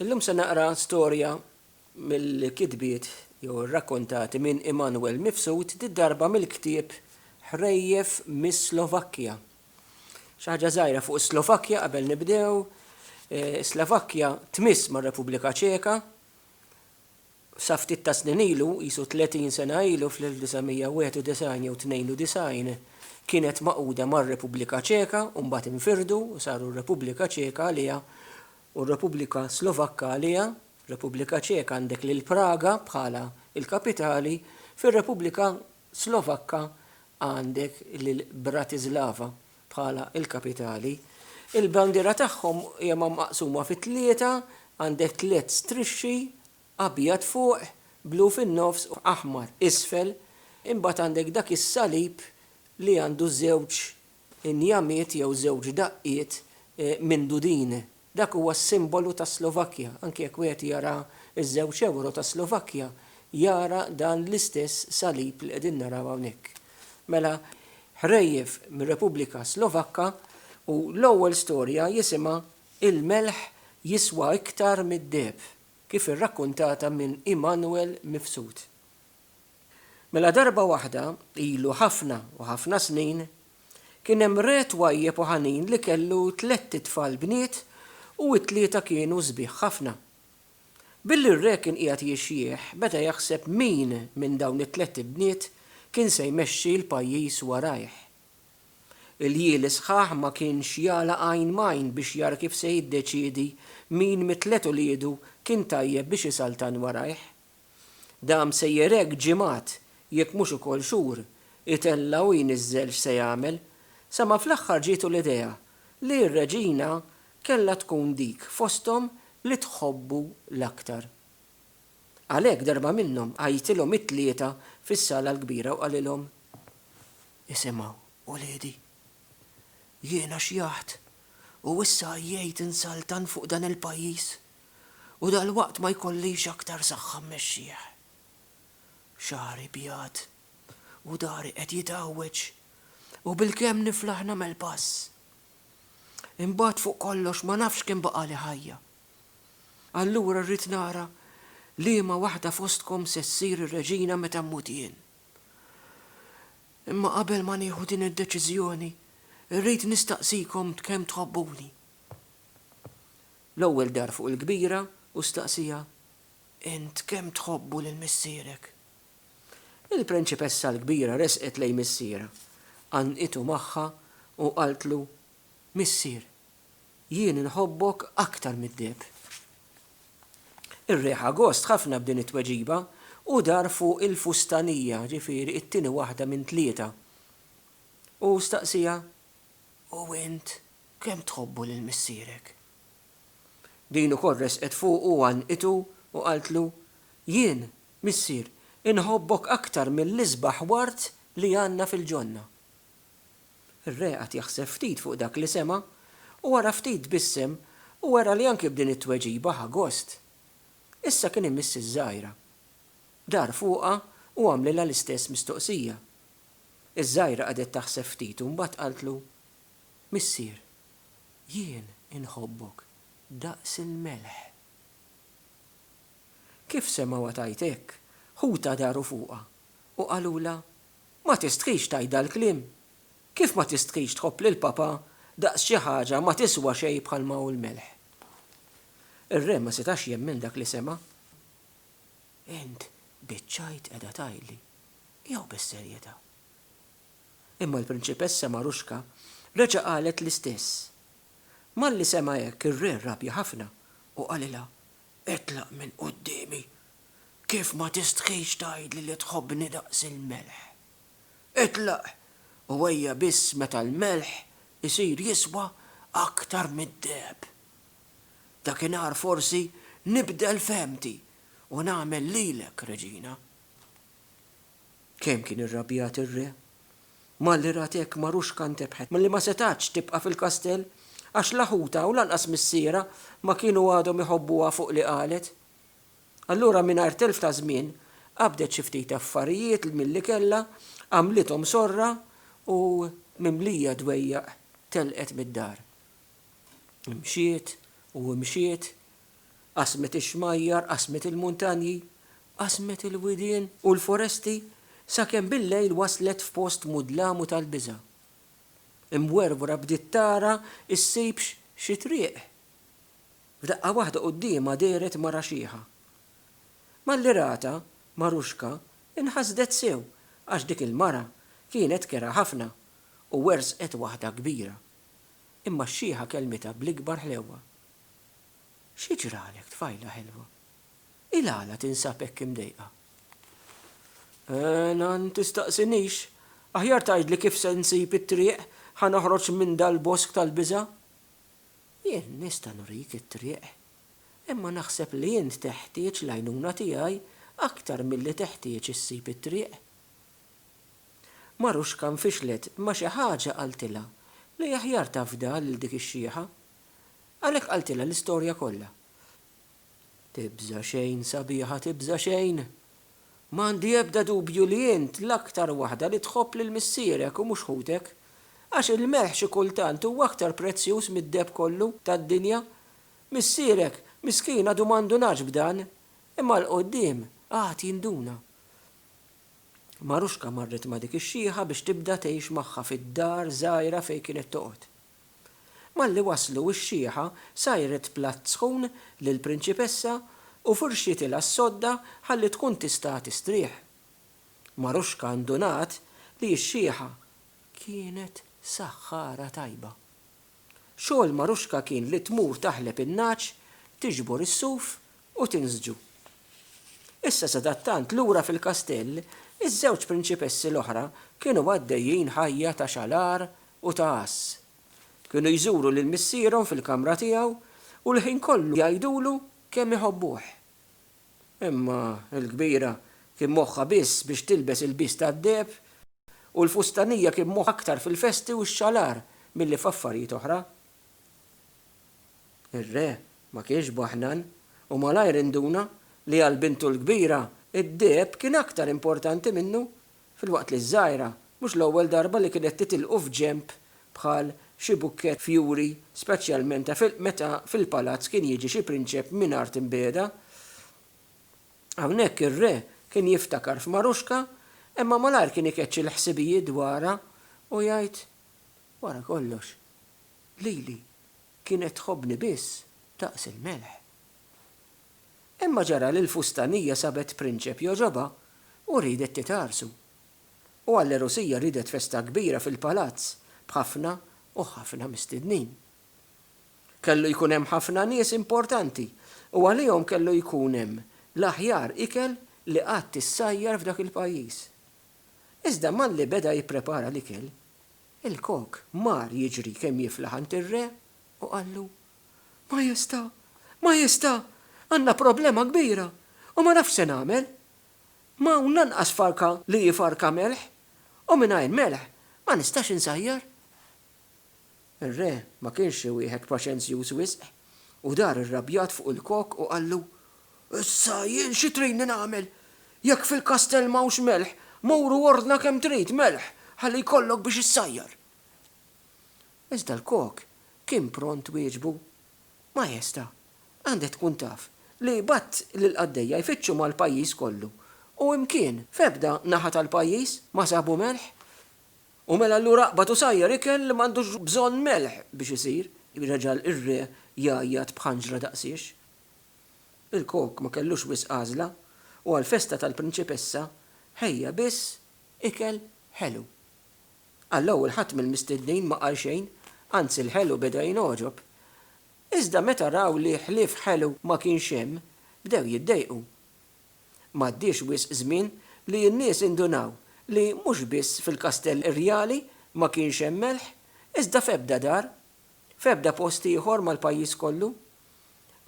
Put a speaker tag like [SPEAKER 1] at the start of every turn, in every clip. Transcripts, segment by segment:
[SPEAKER 1] Illum se naqra storja mill-kitbiet jew irrakkontati minn Immanuel Mifsud did-darba mill-ktieb Ħrejjef mis-Slovakkja. Xi ħaġa żgħira fuq is-Slovakkja qabel nibdew. Is-Slovakkja tmiss mar-Repubblika Ċeka Sa ftit tas-snin ilu, qisu 30 sena ilu, fl-1991 jew 92, kienet magħquda mar-Repubblika Ċeka u mbagħad infirdu u saru r-Repubblika Ċeka għaliha u r-Repubblika Slovakka għaliha, Repubblika Ċeka għandek lil Praga bħala l-kapitali, fir-Repubblika Slovakka għandek lil Bratislava bħala l-kapitali. Il-bandiera tagħhom hija maqsuma fi tlieta, għandek tliet strixxi, abjad fuq, blu fin-nofs u aħmar isfel, imbagħad għandek dak is-salib li għandu żewġ injamiet jew żewġ daqqiet mindudin. Dak huwa s-simbolu tas-Slovakkja, anki jekk wieħed jara ż-żewġ ewro tas-Slovakkja, jara dan l-istess salib li qegħdin naraw hawnhekk. Mela, ħrejjef mir-Repubblika Slovakka u l-ewwel storja jisimha Il-Melħ Jiswa Iktar mid-Deheb, kif irrakkuntata minn Immanuel Mifsud. Mela darba waħda, ilu ħafna u ħafna snin, kien hemm re twajjeb u ħanin li kellu tlett itfal bniet u t-tlieta kienu sbieħ ħafna. Billi r-re kien qiegħed jixjieħ, beda jaħseb min minn dawn it-tlett ibniet kien se jmexxi l-pajjiż warajh. Il-jieli sħaħ ma kienx jagħlaq għajn m'għajn biex jara kif se jiddeċiedi min mit-tliet uliedu kien tajjeb biex isaltan warajh. Dam sejjer hekk ġimgħat, jekk mhux ukoll xhur, itella' u jniżżel x'se jagħmel, sa ma fl-aħħar ġietu l-idea li r-reġina kellha tkun dik fosthom li tħobbu l-aktar. Għalhekk darba minnhom għajjitilhom it-tlieta fis-sala l-kbira u qalilhom, Isimgħu, uliedi. Jiena xjaħt u issa għajjejt insaltan fuq dan il-pajjiż. u dalwaqt ma jkollix aktar saħħa mmexxih. Xagħri bjad u dahri qed jitgħawweġ u bilkemm niflaħ nagħmel pass. Imbagħad fuq kollox ma nafx kemm baqagħli ħajja. Allura rrid nara liema waħda fostkom se ssir ir-reġina meta mmut jien. Imma qabel ma nieħu din id-deċiżjoni, irrid nistaqsikom kemm tħobbuni. L-ewwel dar fuq il-kbira u staqsieha, Int kemm tħobbu lil missierek? Il-prinċipessa l-kbira resqet lejn missierha, għannqitu magħha u qaltlu, Missier, jien inħobbok aktar mid-deheb. Ir-re ħa gost ħafna b'din it-tweġiba u dar fuq il-fustanija, ġifieri t-tieni waħda minn tlieta, u staqsieha, U int Kemm tħobbu lil missierek? Din ukoll resqet fuqu u għannqitu u qaltlu, Jien, missier, inħobbok aktar mill-isbaħ ward li għandna fil-ġonna. Ir-re qagħad jaħseb ftit fuq dak li sema' u wara ftit tbissem u wera li anki b'din it-tweġiba ħa gost. Issa kien imiss iż-żgħira. Dar fuqha u għamlilha l-istess mistoqsija. Iż-żgħira qagħdet taħseb ftit u mbagħad qaltlu, Missier, jien inħobbok daqs il-melħ. Kif semgħuha tgħid hekk, ħutha daru fuqha u qalulha, Ma tistħix tgħid dal-kliem! Kif ma tistħix tħobb lil papà daqs xi ħaġa ma tiswa xejn bħalma hu l-melħ? Ir-re ma setax jemmen dak li sema'. Int biċċajt qiegħda tgħidli jew bis-serjetà? Imma l-Prinċipessa Maruschka reġa' qalet l-istess. Malli sema' hekk ir-re rrabja ħafna u qalilha, Itlaq minn quddiemi! Kif ma tistħix tgħidli li tħobbni daqs il-melħ? Itlaq u ejja biss meta l-melħ isir jiswa aktar mid-deheb. Dakinhar forsi nibdel fehmti u nagħmel lilek reġina. Kemm kien irrabjat ir-re! Malli rat hekk, Maruxka ntebħet milli ma setgħatx tibqa' fil-kastell, għax la ħutha u lanqas missierha ma kienu għadhom iħobbuha fuq li qalet. Allura mingħajr telf ta' żmien, qabdet xi ftit affarijiet li milli kellha, għamlithom sorra u, mimlija dwejjaq, telqet mid-dar. Imxiet u imxiet, Qasmet ix-xmajjar, qasmet il-muntanji, qasmet il-widien u l-foresti sakemm bil-lejl waslet f'post mudlam u tal-biża'. Imwerwra bdiet tara ssibx xi triq. F'daqqa waħda quddiemha dehret mara xiħa. Malli ratha, Maruxka inħasdet sew għax dik il-mara kienet kerha ħafna u wersqet waħda kbira. Imma x-xiħa kellmitha bl-ikbar ħlewwa. Xi ġralek, tfajla ħelwa? Il-għala tinsab hekk imdejqa? Eeh, nan, tistaqsinix! Aħjar tgħidli kif se nsib it-triq, ħa noħroġ minn dal-bosk tal-biża'? Jien nista' nurik it-triq, imma naħseb li int teħtieġ l-għajnuna tiegħi aktar milli teħtieġ issib it-triq. Maruxka nfixlet ma' xi ħaġa qaltilha li aħjar tafdha lil dik ix-xiħa. Għalhekk qaltilha l-istorja kollha. Tibża' xejn, sabiħa, tibża' xejn! M'għandi ebda dubju li int l-aktar waħda li tħobb lil missierek u mhux ħutek. Għax il-melħ xi kultant huwa aktar prezzjuż mid-deheb kollu tad-dinja. Missierek, miskin għadu ma ndunax b'dan, imma 'l quddiem għad jinduna. Maruxka marret ma' dik ix-xiħa biex tibda tgħix magħha fid-dar żgħira fejn kienet toqgħod. Malli waslu x-xieħa sajret platt sħun lill-prinċipessa u furxietilha s-sodda ħalli tkun tista' tistrieħ. Maruxka ndunat li x-xieħa kienet saħħara tajba. Xogħol Maruxka kien li tmur taħleb in-nagħaġ, tiġbor is-suf u tinżġu. Issa sadattant lura fil-kastell, iż-żewġ prinċipessi l-oħra kienu għaddejjin ħajja ta' xalar u ta' għass. Kienu jżuru lil missierhom fil-kamra tiegħu u l-ħin kollu jgħidulu kemm iħobbuh. Imma l-kbira kien moħħha biss biex tilbes ilbies tad-deheb u l-fustanija kien moħħha aktar fil-festi u x-xalar milli f'affarijiet oħra. Ir-re ma kienx baħnan u malajr induna li għal bintu l-kbira d-deheb kien aktar importanti minnu, filwaqt li ż-żgħira mhux l-ewwel darba li kienet titilqu f'ġenb bħal xi bukkett fjuri speċjalment meta fil-palazz kien jiġi xi prinċep minn art imbiegħda. Hawnhekk ir-re kien jiftakar f'Maruxka imma malajr kien ikeċċi l-ħsibijiet dwarha u jgħid, Wara kollox, lili kienet tħobbni biss daqs il-melħ. Imma ġara li l-fustanija sabet prinċep jogħġobha u riedet titgħarrsu. U għall-għerusija riedet festa kbira fil-palazz b'ħafna u ħafna mistednin. Kellu jkun hemm ħafna nies importanti u għalihom kellu jkun hemm l-aħjar ikel li qatt issajjar f'dak il-pajjiż. Iżda malli beda jipprepara l-ikel, il-kok mar jiġri kemm jiflaħ għand ir-re u qallu, Majesta', Majesta', għandna problema kbira u ma nafx se nagħmel. M'hawn lanqas farka li hi farka melħ u mingħajr melħ ma nistax insajjar. Ir-re ma kienx xi wieħed paċenzjuż wisq, u dar irrabjat fuq il-kok u qallu, Issa jien xi tridni nagħmel? Jekk fil-kastell m'hawnx melħ, mur u ordna kemm trid melħ ħalli jkollok biex issajjar. Iżda l-kok kien pront wieġbu, Majesta, għandek tkun taf li bgħadt lill-qaddejja jfittxu mal-pajjiż kollu u imkien, f'ebda naħa tal-pajjiż, ma sabu melħ. U mela allura aqbad u sajjar ikel li m'għandux bżonn melħ biex isir, reġa' r-re jgħajjat b'ħanġra daqsiex. Il-kok ma kellux wisq għażla u għall-festa tal-prinċipessa ħejja biss ikel ħelu. Għall-ewwel ħadd mill-mistednin ma qal xejn, anzi l-ħelu beda jingħoġob. Iżda meta raw li ħlief ħelu ma kienx hemm, bdew jiddejqu. M'għaddiex wisq żmien li n-nies indunaw li mhux biss fil-kastell irjali ma kienx hemm melħ, iżda f'ebda dar, f'ebda post ieħor mal-pajjiż kollu.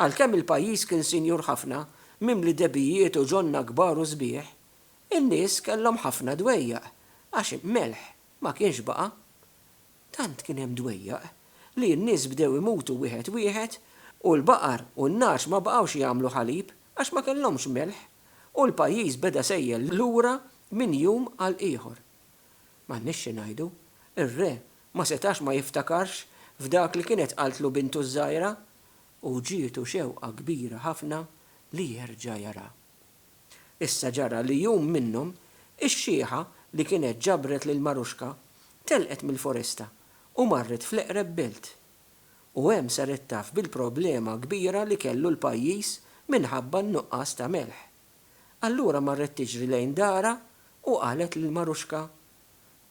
[SPEAKER 1] Għalkemm il-pajjiż kien sinjur ħafna, mimli debbijiet u ġonna kbar u sbieħ, in-nies kellhom ħafna dwejjaq għax melħ ma kienx baqa'. Tant kien hemm dwejjaq li n-nies bdew imutu wieħed wieħed u l-baqar u n-nagħaġ ma baqgħux jagħmlu ħalib għax ma kellhomx melħ u l-pajjiż beda sejjel lura minn jum għal ieħor. M'għandniex xi ngħidu, ir-re ma setax ma jiftakarx f'dak li kienet qaltlu bintu ż-żgħira u ġietu xewqa kbira ħafna li jerġa' jaraha. Issa ġara li jum minnhom, ix-xiħa li kienet ġabret lil Maruxka telqet mill-foresta u marret fl-eqreb belt. U hemm saret taf bil-problema kbira li kellu l-pajjiż minħabba n-nuqqas ta' melħ. Allura marret tiġri lejn darha u qalet lil Maruxka,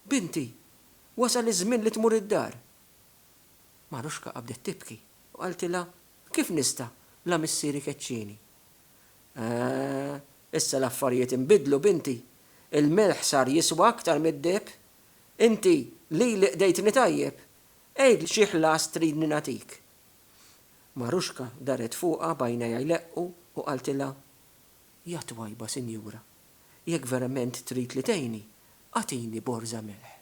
[SPEAKER 1] Binti, wasal iż-żmien li tmur id-dar! Maruxka qabdet tibki u qaltilha, Kif nista', la missieri keċċieni? Eeh, issa l-affarijiet inbidlu, binti. Il-milħ sar jiswa aktar mid-deheb. Inti lili qdejtni tajjeb. Għidli xi ħlas tridni nagħtik. Maruxka darret fuqha b'għajnejha jleqqu u qaltilha, Ja twajba sinjura, jekk verament trid li tgħinni, agħtini borża milħ.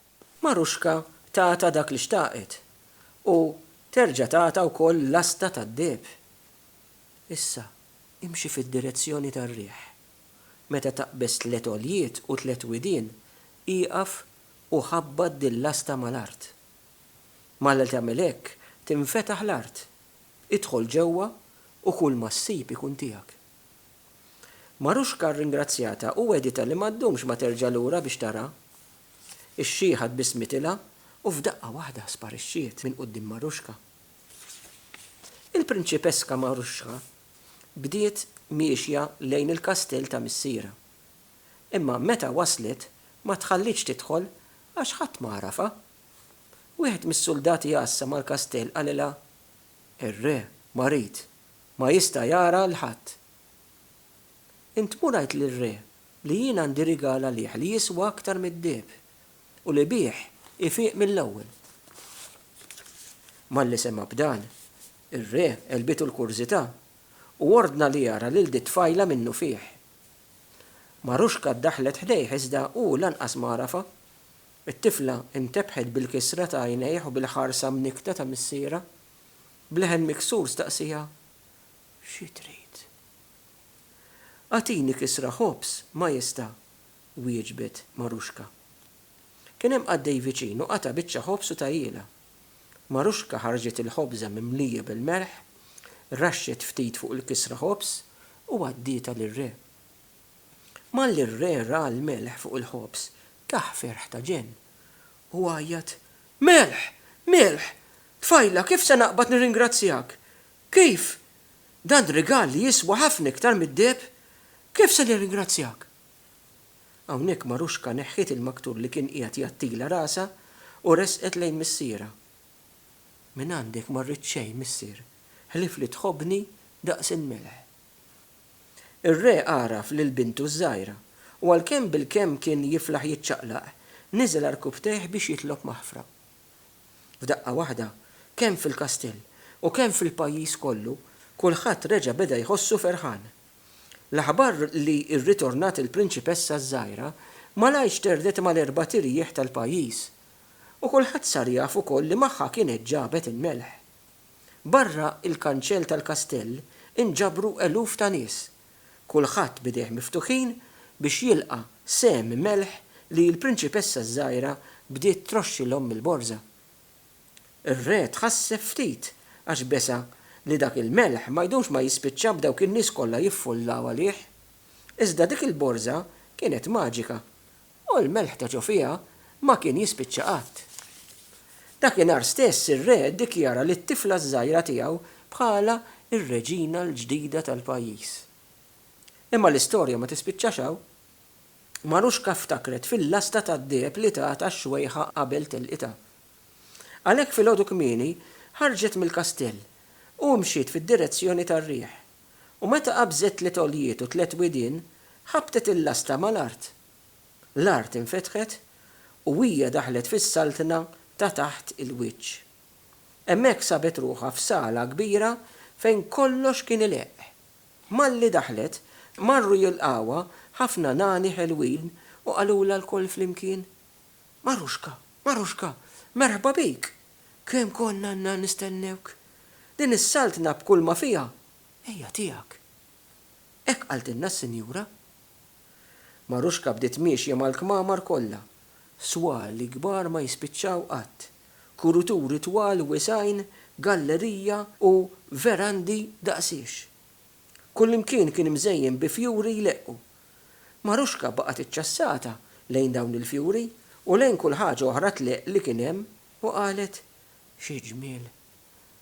[SPEAKER 1] Maruxka tatha dak li xtaqet u terġa' tatha wkoll lasta tad-deheb. Issa, imxi fid-direzzjoni tar-riħ. Meta taqbeż tliet għoljiet u tliet widien, ieqaf u ħabbat dil-lasta mal-art. Malli tagħmel hekk, tinfetaħ l-art. Idħol ġewwa u kulma ssib ikun tiegħek. Maruxka rringrazzjatha u wegħditha li ma ddumx ma terġa' lura biex tara. Ixxieħat bi smitilha u f'daqqa waħda sparixxiet minn quddiem Maruschka. Il-Prinċipeska Maruschka bdiet miexja lejn il-kastell ta' missierha. Imma meta waslet ma tħallietx tidħol għax ħadd ma għarafha. Wieħed mis-suldati għassa mal-kastell qalilha, Ir-Re marid, ma jista' jara 'l ħadd. Int mur għidt lir-Re li jien għandi rigal għalih li jiswa aktar mid-deheb, u li bih ifiq mill-ewwel. Malli sema' b'dan, ir-re għelbitu l-kurżità u ordna li jara lil dit-tfajla minnufih. Maruschka ddaħħlet ħdejh iżda hu lanqas ma għarafha. It-tifla ntebħet bil-kisra ta' għajnejh u bil-ħarsa mnikkta ta' missierha. B'leħen miksur staqsieha, Xi trid? Agħtini kisra ħobż, Majesta, wieġbet Maruxka. Kien hemm qaddej viċin u qata' biċċa ħobż u tahielha. Maruxka ħarġet il-ħobża mimlija bil-melħ, raxxet ftit fuq il-kisra ħobż u għaddietha lir-re. Malli r-re ra l-melħ fuq il-ħobż tah ferħ ta' ġenn. Hu għajjat, Melħ! Milħ! Tfajla, kif se naqbad nirringrazzjak? Kif? Dan rigal li jiswa ħafna iktar mid-deheb? Kif se nirringrazzjak? Hawnhekk Maruxka neħħiet il-maktur li kien qiegħed jgħattila rasha u resqet lejn missierha. Mingħandek ma rrid xejn, missier, ħlief li tħobbni daqs il-melħ. Ir-re għaraf lil bintu ż-żgħira u għalkemm bilkemm kien jiflaħ jiċċaqlaq, niżel għarkupptejh biex jitlob maħfra. F'daqqa waħda, kemm fil-kastell u kemm fil-pajjiż kollu, kulħadd reġa' beda jħossu ferħan. L-aħbar li rritornat il-prinċipessa ż-żgħira malajr xterdet mal-erbat irjieħ tal-pajjiż. U kulħadd sar jaf ukoll li magħha kienet ġabet il-melħ. Barra l-kanċell tal-kastell inġabru eluf ta' nies kulħadd b'idejh miftuħin biex jilqa' sehem melħ li l-prinċipessa ż-żgħira bdiet troxxilhom mill-borża. Ir-re tħasseb ftit għax besa li dak il-melħ ma jdumx ma jispiċċa b'dawk in-nies kollha jiffullaw għalih. Iżda dik il-borża kienet maġika U l-melħ ta' ġo fiha ma kien jispiċċa qatt. Dakinhar stess ir-re ddikjara lit-tifla ż-żgħira tiegħu bħala r-reġina l-ġdida tal-pajjiż. Imma l-istorja ma tispiċċax hawn. Maruxka ftakret fil-lasta tad-deheb li tatha xwejħa qabel telqitha. Għalhekk filgħodu kmieni ħarġet mill-kastell u mxiet fid-direzzjoni tar-riħ. U meta qabżet tliet għoljiet u tliet widien, ħabbtet il-lasta mal-art. L-art infetħet u hija daħlet fis-saltna ta' taħt il-wiċċ. Hemmhekk sabet ruħha f'sala kbira fejn kollox kien ileqq. Malli daħlet, marru jilqgħuha ħafna nani ħelwin u qalulha lkoll flimkien, Maruxka, Maruxka, merħba bik! Kemm konna għandna nistennewk! Din is-saltna b'kulma fiha hija tiegħek. Hekk qaltilna s-sinjura. Maruxka bdiet miexja mal-kmamar kollha. Swali kbar ma jispiċċaw qatt. Kuruturi twal wiesgħin, gallerija u verandi daqs hix. Kullimkien kien mżejjen bi fjuri jleqqu. Maruxka baqgħet iċċassata lejn dawn il-fjuri u lejn kull ħaġa oħra tleqq li kien hemm u qalet, Xi ġmiel!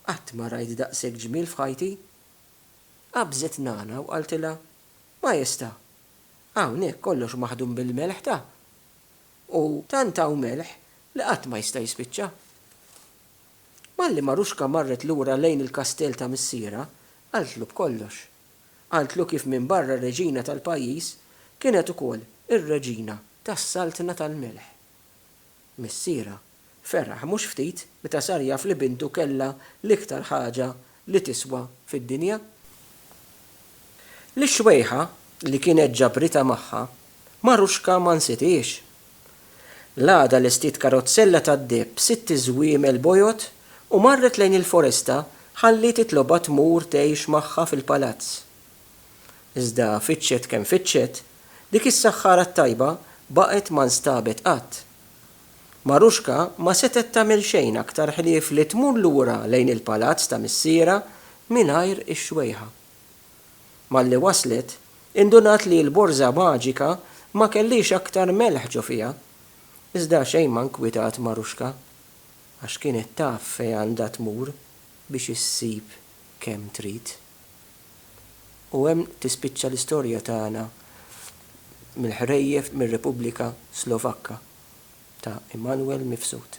[SPEAKER 1] Qatt ma rajt daqshekk ġmiel f'ħajti! Qabżet Nana u qaltilha, Maestà, hawn hekk kollox maħdum bil-melħ ta'. U tant hawn melħ li qatt ma jista' jispiċċa. Malli Maruxka marret lura lejn il-kastell ta' missierha, qaltlu b'kollox. Qaltlu kif minn barra r-reġina tal-pajjiż kienet ukoll ir-reġina tas-saltna tal-melħ. Missierha ferraħ mhux ftit meta sar jaf li bintu kellha l-iktar ħaġa li tiswa fid-dinja. L-ixwejħa li kienet ġabritha magħha, Maruxka ma nsitiex. L-għada lestiet karozzella tad-deheb b'sitt żwiemel bojod u marret lejn il-foresta ħalli titlobha tmur tgħix magħha fil-palazz. Iżda fittxet kemm fittxet, dik is-saħħara t-tajba baqgħet ma nstabet qatt. Maruxka ma setgħet tagħmel xejn aktar ħlief li tmur lura lejn il-palazz ta' missierha mingħajr ix-xwejħa. Malli waslet, indunat li l-borża maġika ma kellhiex aktar melħ ġo fiha. Iżda xejn ma nkwitat Maruxka, għax kienet taf fejn għandha tmur biex issib kemm trid. U hemm tispiċċa l-istorja tagħna mill-ħrejjef mir-Repubblika Slovakka ta' Immanuel Mifsud.